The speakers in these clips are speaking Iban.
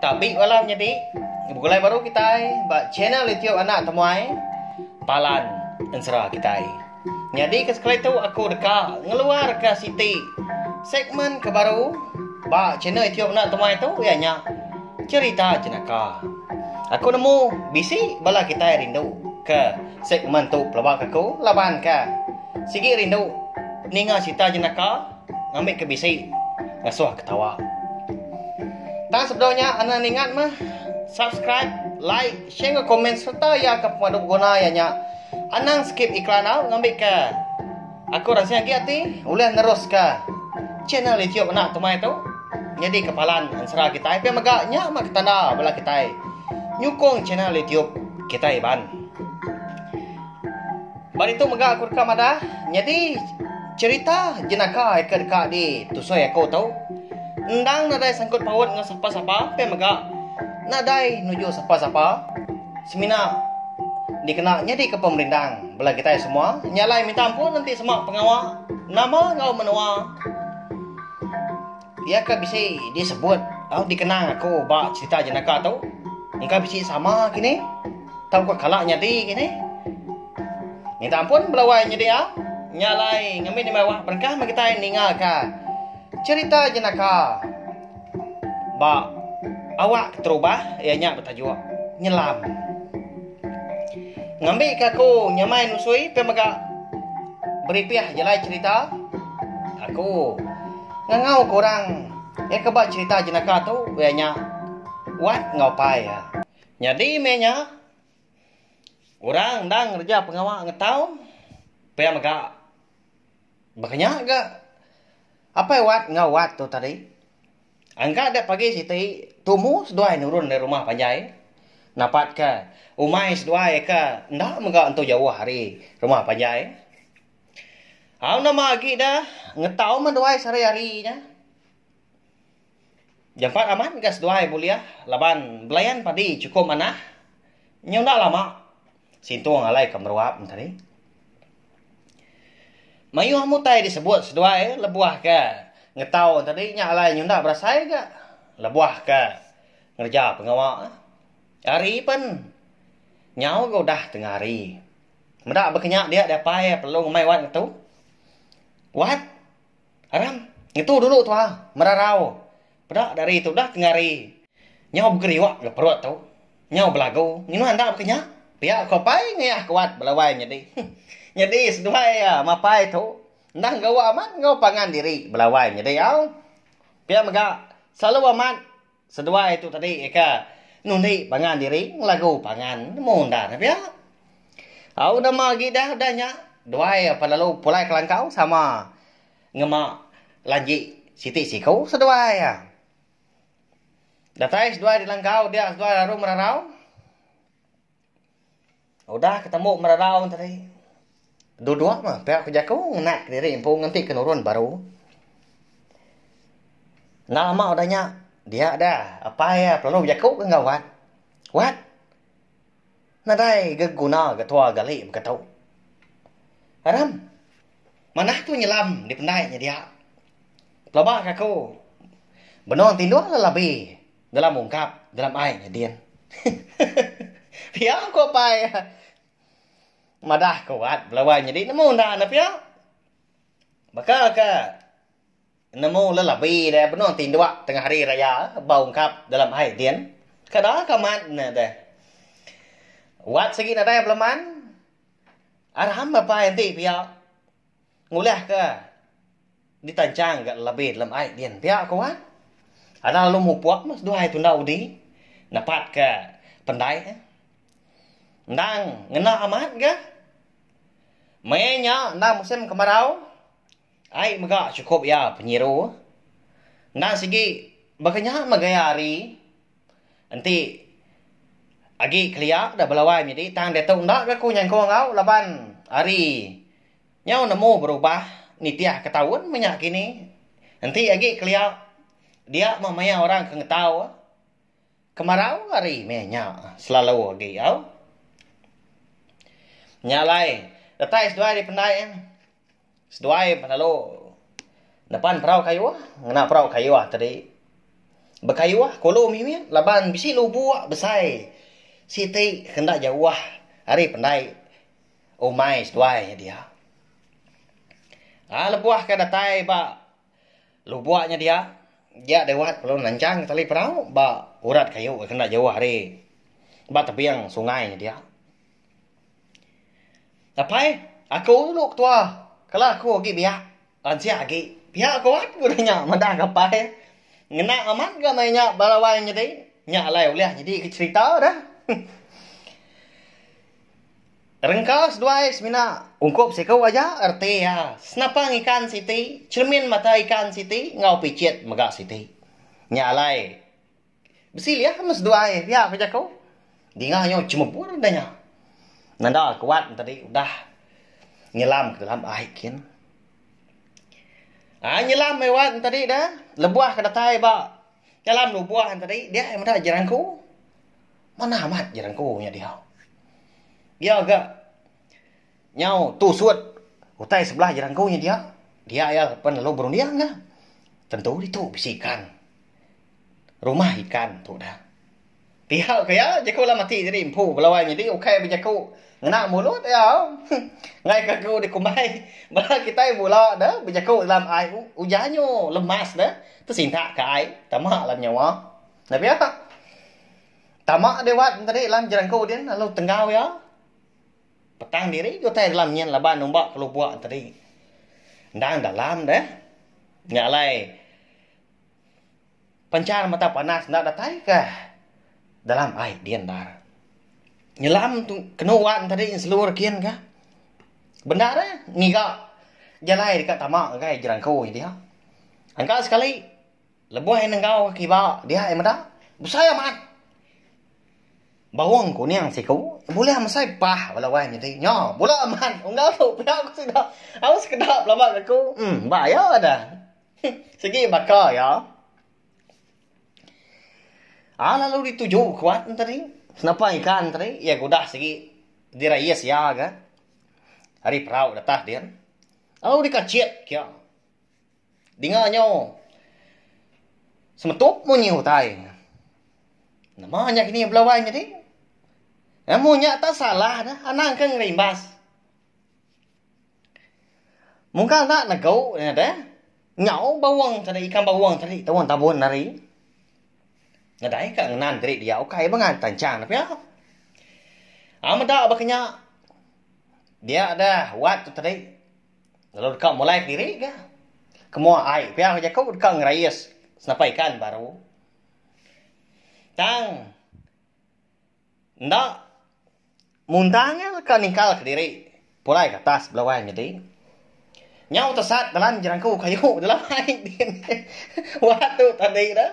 Tapi bala menyadi begulai baru kitai ba channel YouTube anak temuai Palan Ensera kitai. Nyadi ke sekali tu aku deka ngeluarka siti segmen ke baru ba channel YouTube anak temuai tu iya nya cerita jenaka. Aku nemu bisi bala kitai rindu ke segmen tu pelabak aku laban ke sigi rindu ninga cerita jenaka Ngambi ke bisi ngasuh ketawa. Tang sebedau nya anak ningat meh subscribe, like, share enggau komen serta iya ke pemadu beguna iya nya. Anang skip iklan au ngambi ke aku rasing agi ati ulih neruska channel YouTube anak tumai tu nyadi ke palan ensera kitai pia mega nya mah ke tanda bala kitai nyukung channel YouTube kitai iban. Ba ditu mega aku deka madah nyadi cherita jenaka ke deka di tusoi aku tu. Endang nadai sangkut paut enggau sapa-sapa pia mega nadai nuju sapa-sapa semina dikena nyadi ke pemerindang bala kitai semua nya alai minta ampun enti sema pengawa nama enggau menua. Iya ke bisi disebut tau dikenang aku ba cerita jenaka tu. Engka bisi sama kini. Tau ko kala nyadi kini. Minta ampun belawai nyadi ah. Nyalai ngambi ni mawah berkah magi tai ninga ka cerita jenaka ba awak keterubah ia nya bertajuk nyelam ngambi ke aku nyamai nusui pe mega beripih jelai cerita aku Ngangau ke orang iya ke ba cherita jenaka tu iya nya Wat enggau Pai iya. Nyadi meh nya orang endang ngereja pengawa ngetau pia mega baka nya ga Apai Wat enggau Wat tu tadi engka dep agi siti tumu seduai nurun dari rumah panjai napat ke umai seduai ke enda mega entu jauh ari rumah panjai. Au nama agi da ngetau meh duai sehari-hari nya. Jampat amat gas duai bulih laban belayan padi chukup manah. Nyau enda lama sintung alai ke meruap enti hari. Mayuh amu utai disebut seduai lebuh ke ngetau enti hari nya alai nyau enda berasai ga lebuh ke ngereja pengawa. Ari pen nyau ga udah tengah hari. Meda baka nya dia dia pai perlu ngemai wat ngetu. Wat. Aram. Ngetu dulu tua. Merarau. Peda dari tu dah tengari. Nyau begeriwa ga perut tu. Nyau belagu. Nyuan enda baka nya. Pia ko pai ngeyah ko wat belawai nyadi. Nyadi seduai iya mapai tu. Enda enggau amat enggau pangan diri belawai nyadi au. Pia mega selalu amat Seduai tu tadi eka nundi pangan diri ngelagu pangan nemu enda ne pia. Au nama agi dah udah nya duai apan lalu pulai kelangkau sama ngema lanji siti siku seduai iya. Datai seduai di langkau dia seduai lalu merarau. Udah ke tembu merarau tadi, duduk meh pia ku jaku ngena kediri empu ngenti ke nurun baru. Enda lama udah nya, dia deh apai iya pelalu bejaku ke enggau Wat. Wat, nadai ga guna ga tua gali mega tu. Aram, manah tu nyelam dipendai nya dia. Pelaba ka aku benung tindung labi. Dalam ungkap, dalam ai nya din. Pia ko pai. Madah ko wat belawai nyadi nemu enda ne pia. Baka ka nemu lelabi deh benung tinduk tengah hari raya ba ungkap dalam ai din. Kada ka amat ne deh. Wat sigi nadai beleman. Aram apai enti pia. Ngulah ke ditanchang ga lebih dalam ai din pia ko wan. Alah lalu mupok meh seduai tunda udi nepat ke pendai eh. Endang ngena amat ga mei nya enda musim kemarau ai mega sukup iya penyiru. Endang sigi baka nya meh gaya hari. Enti agi kelia udah belawai menyadi tang diatu enda ga ku nyengkong enggau laban hari nyau nemu berubah nitih ke taun menya kini. Enti agi kelia dia meh maya orang ke ngetau kemarau hari meh nya selalu agi au. Nya alai retai seduai dipendai. Seduai pan lalu nepan perau kayuh ngena perau kayuh tadi. Bekayuh ku ulu mimit laban bisi lubok besai siti ke enda jauh ari pendai umai seduai nya dia. Lalu lebuh ke datai ba lubok nya dia, dia dewek lalu nanchang tali perau ba urat kayu ke enda jauh ari ba tebing sungai nya dia. Apai, aku dulu ketua. Kala aku agi biak, lansia agi, pia ku wan ku deh nya madah ke apai. Ngena amat ga meh nya bala wai nyadi. Nya alai ulih nyadi ke cherita deh. Rengka seduai semina ungkup siku aja reti iya. Senapang ikan siti, cermin mata ikan siti enggau pichit mega siti. Nya alai. Besi liah mes duai pia ku jaku. Dinga nyau chemebur enda nya. Nanda ke wan tadi udah nyelam ke dalam ai kin. Ai nyelam ai wan tadi da lebuh ke datai ba dalam lubong wan tadi dia ai meda jerangku. Manah amat jerangku nya diau. Iya ga Nyau tu sut utai sebelah jerangku nya dia, dia iya pen lalu berunding nya. Tentu ditu bisi ikan. Rumah ikan tu dah. Tihau ke iya, jaku Alan Mati tadi empu belawai nyadi ukai bejaku ngena mulut iya. Enggai ke aku dikumbai bala kitai bula ne bejaku dalam ai ujan nyu lemas ne tesintak ke ai tama dalam nyawa. Enda pia. Tama dewat tadi dalam jerangku din lalu tenggau iya. Petang diri utai dalam nyin laban numba ke lubok tadi. Endang dalam deh. Nya alai penchar mata panas enda datai ke dalam ai din endar. Nyelam tu kenu wan tadi selur kin ka. Bendar eh ngiga jalai deka tama ngagai jerangko nya dia. Engka sekali. Lebuh iya nenggau ka kiba dia iya meda, Besai amat! Baung kuning siku bulih mesai pah bala wai nyadi. Nya, bula amat unggal tu pia ku sida. Au sekeda belama ke aku. Em, ba iya dah. Sigi baka iya. Au lalu dituju kuat enti ari. Senapang ikan enti ari, iya ke udah sigi dirayis iya ke ari perau di atas din. Au dikachit ke iya. Dinga nyo semetup munyi utai. Nama nya kini belawai nyadi? Amun nya tak salah dah anang ke ngerimbas. Mungkal enda nego nya deh. Nyau bawang tadi ikan bawang tadi tawang tabon ari. Nadai ka ngenan diri dia ukai ba ngan tanchang ne pia. Amun enda ba kinya dia dah wat tu tadi. Lalu deka mulai kediri ga ke mua ai pia ke jaku deka ngerais senapar ikan baru. Tang enda mundang iya deka ningkal kediri pulai ke atas bela wai nyadi. Nyau tesat dalam jerangku kayu dalam ai din wak atu tadi dah.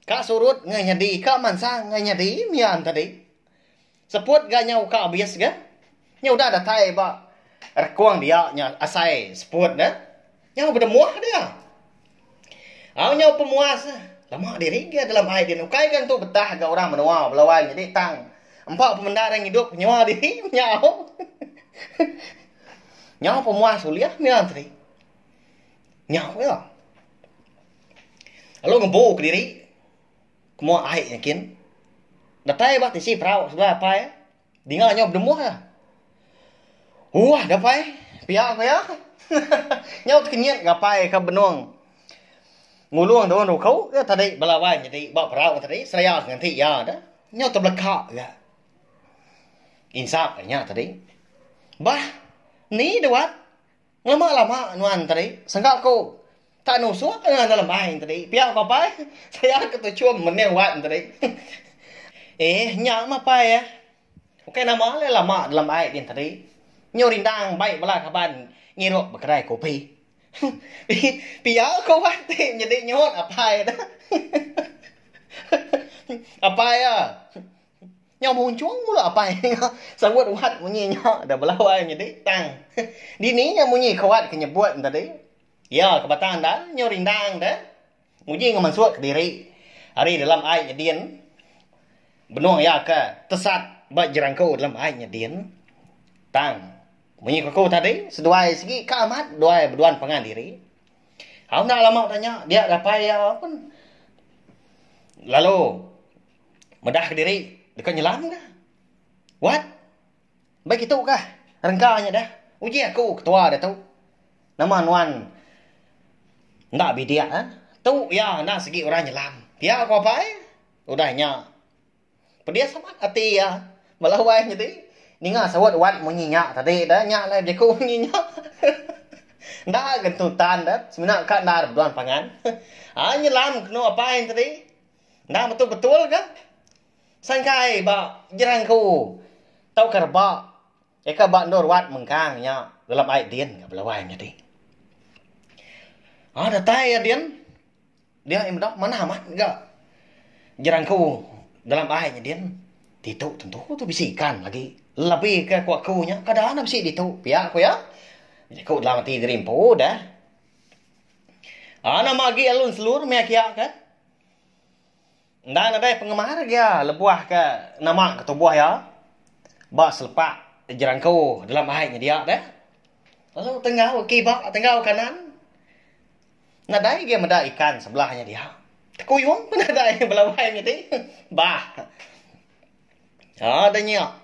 Ka surut ngai nyadi ka mansang ngai nyadi mian tadi. Seput ga nyau ka abis ga. Nya udah datai ba rekong dia nya asai seput ne nyau bedemuh dia. Au nyau pemuas lama diri ga dalam ai din ukai ga entu betah ga orang menua belawai nyadi tang empa pemenda dang idup nyua diri nya au. Nyau pemuas ulih mian tadi. Nyau ga. Lalu ngembu kediri ke mua ai nya kin. Datai ba tisi perau sebelah apai iya. Dinga nyau bedemuh iya. Uah ga apai, pia ku iya. nyau tekenyit ga apai ka benung ngulung daun ruku iya tadi bala wai nyadi ba perau tadi seraya ke nganti iya dah. Nyau tebeleka ga. Insa inya tadi. Bah, ni duat? Ngema lama nuan tadi, sengka ku tak nusuk ke ngagai lembai tadi. Pia ku apai, saya ke tuchum mening wan tadi. Eh, nya mah apai eh. Ukai nama alai lama lembai din tadi. Nyu rindang bai bala kaban ngirup ba kedai kopi. Pia ku wan ti nyadi nyuhut apai. Apai ah. Nyau munchung mula apai nya serut wat munyi nya da belawai nyedi tang. Dini nya munyi ke wat ke nyebut enda di. Iya ke bata enda nyau rindang da nguji enggau mansut kediri ari dalam ai nyedin benung iya ke tesat ba jerangku dalam ai nyedin. Tang munyi ke ku tadi seduai sigi ka amat duai beduan pangan diri. Au enda lama da nya dia apai iya pun lalu Medah kediri deka nyelam ka. Wat. Mbai kitu kah. Rengka nya dah. Uji aku ketua ditu. Nama nuan enda bidik ah. Tu iya enda sigi orang nyelam. Pia ko apai. Udah nya pedis amat ati iya. Bala wai nyadi ninga saut wat munyi nya tadi dah. Nya alai bejaku munyi nya. Enda gentutan dah. Semina ka enda beduan pangan. Ai nyelam kenu apai tadi. Enda metu betul ke? Sangkai ba jerangku tauka rebak eka ba endur wat mengkang nya gelap ai din ka belawai nyadi. Au datai iya din. Dia iya meda manah amat ga jerangku dalam ai nya din. Ditu tentu tu bisi ikan lagi labi ke ku aku nya kada enda bisi ditu pia ku iya. Jaku dalam ati diri empu deh. Au nama agi lalu enselur meh kiya ke. Enda nadai pengemar iya lebuh ke nama ke tubuh iya ba selepa jerangku dalam ai nyedia deh. Lalu tenggau kiba tenggau kanan nadai agei meda ikan sebelah nya dia. Tekuyung pun nadai bala wai nya ti bah. Ada nya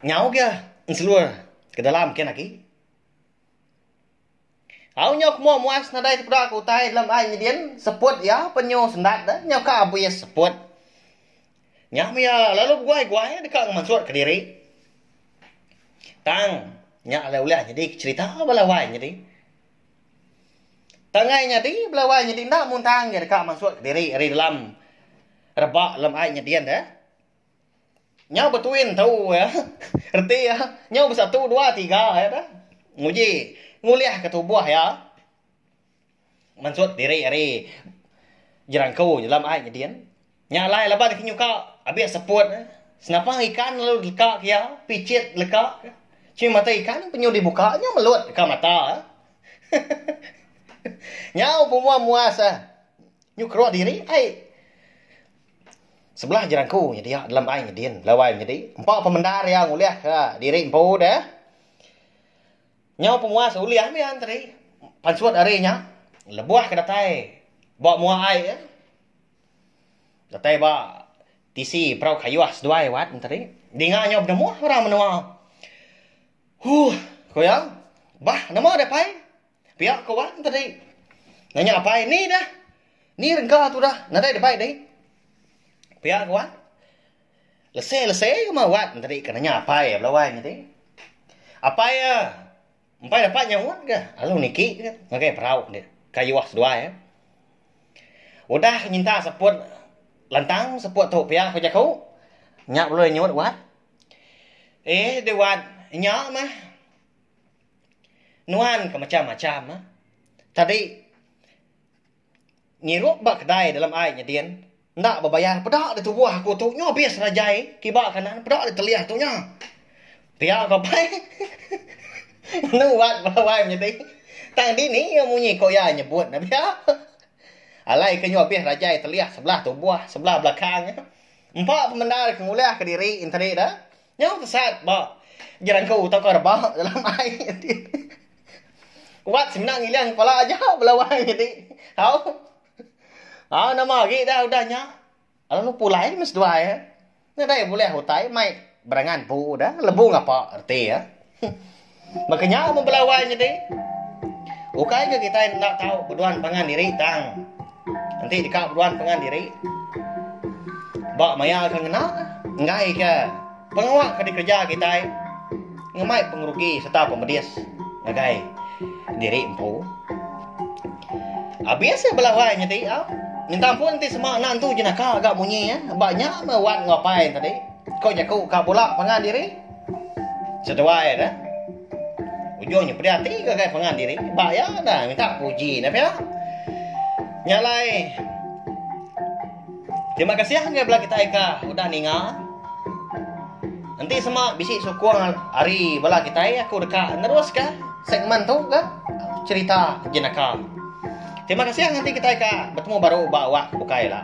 nyau agei selur ke dalam kian agi. Au nyau kemua muas nadai tepeda ke utai lem ai nyedin seput iya penyu sendat deh nyau ka abis seput. Nya meh iya lalu beguai-guai deka ngemansut kediri. Tang nya alai ulih nyadi ke cherita bala wai nyadi. Tang ai nyadi bala wai nyadi enda muntang iya deka mansut kediri ari dalam rebak lem ai nyedin deh. Nyau betui entu iya. Reti iya. Nyau besatu dua tiga iya dah. Nguji. Ngulihka tubuh iya. Mansut diri ari jerangku jelam ai nyedin. Nya alai laban aki nyuka abih seput eh. Senapang ikan lalu deka ke iya. Pichit leka ke. Chin mata ikan penyu dibuka nyau melut deka mata eh. Nyau pemua muas eh. Nyu keruh diri ai. Sebelah jerangku nyedia dalam ai nyedin belawai menyedi empa pemendar iya ngulihka diri empu deh. Nyau pemuas ulih mian tadi pansut ari nya lebuh ke datai ba mua ai iya. Datai ba tisi perau kayuh seduai wat nya tadi. Dinga nyau benemuh orang menua. Huh ku iya. Bah nama deh pai. Pia ke wan tadi nanya apai ni dah ni rengka tu dah nadai dabai deh pia ke wan lese lese kuma wan tadi ke nanya apai bala wan tadi apai ya empai dapat nyaut ga lalu niki ga ngagai perau nya kayuh seduai ya udah nyinta seput lantang seput tu pia ke jaku nya ulih nyaut wan eh deh wan nya mah. Nuan ke mecham macham ah. Tadi ngirup ba kedai dalam ai nyedin enda bebayar peda deh tubuh aku tu nyo abis nya jai kiba kanan peda deh telih tu nya. Pia ko apai. Enu wat bala wai menyadi. Tang dini iya munyi ko iya nyebut ne pia. Alai ke nyo abis nya jai telih sebelah tubuh sebelah belakang. Empa pemendar ke ngulih ke diri enti da. Nyau tesat ba jerangkau tauka rebak dalam ai enti wat semina ngilang kepala aja bala wai enti tau. Au nama agi dah udah nya lalu lu pulai meh seduai nadai bulih utai mai berangan empu dah lebu ngapa reti iya. Baka nya mun bala awai nyadi, ukai ke kitai enda tau beduan pangan diri tang enti deka beduan pangan diri ba maya ke ngena enggai ke pengawa ke dikereja kitai ngemai pengerugi sereta pemedis ngagai diri empu. Abis ya bala awai nyadi au. Minta ampun enti sema anak tu jenaka agak munyi ya. Ba nya me wan ngapai tadi. Ko jaku ka bola pangan diri. Seduai ne, ujung nya pedih ati ngagai pangan diri ba iya dah minta puji enda pia. Nya alai Terima kasih ngagai bela kita ika udah ninga. Enti sema bisi sukung hari bela kita aku deka neruska segmen tu ke cerita jenaka. Terima kasih nganti kita ika bertemu baru ba wak bukai lah.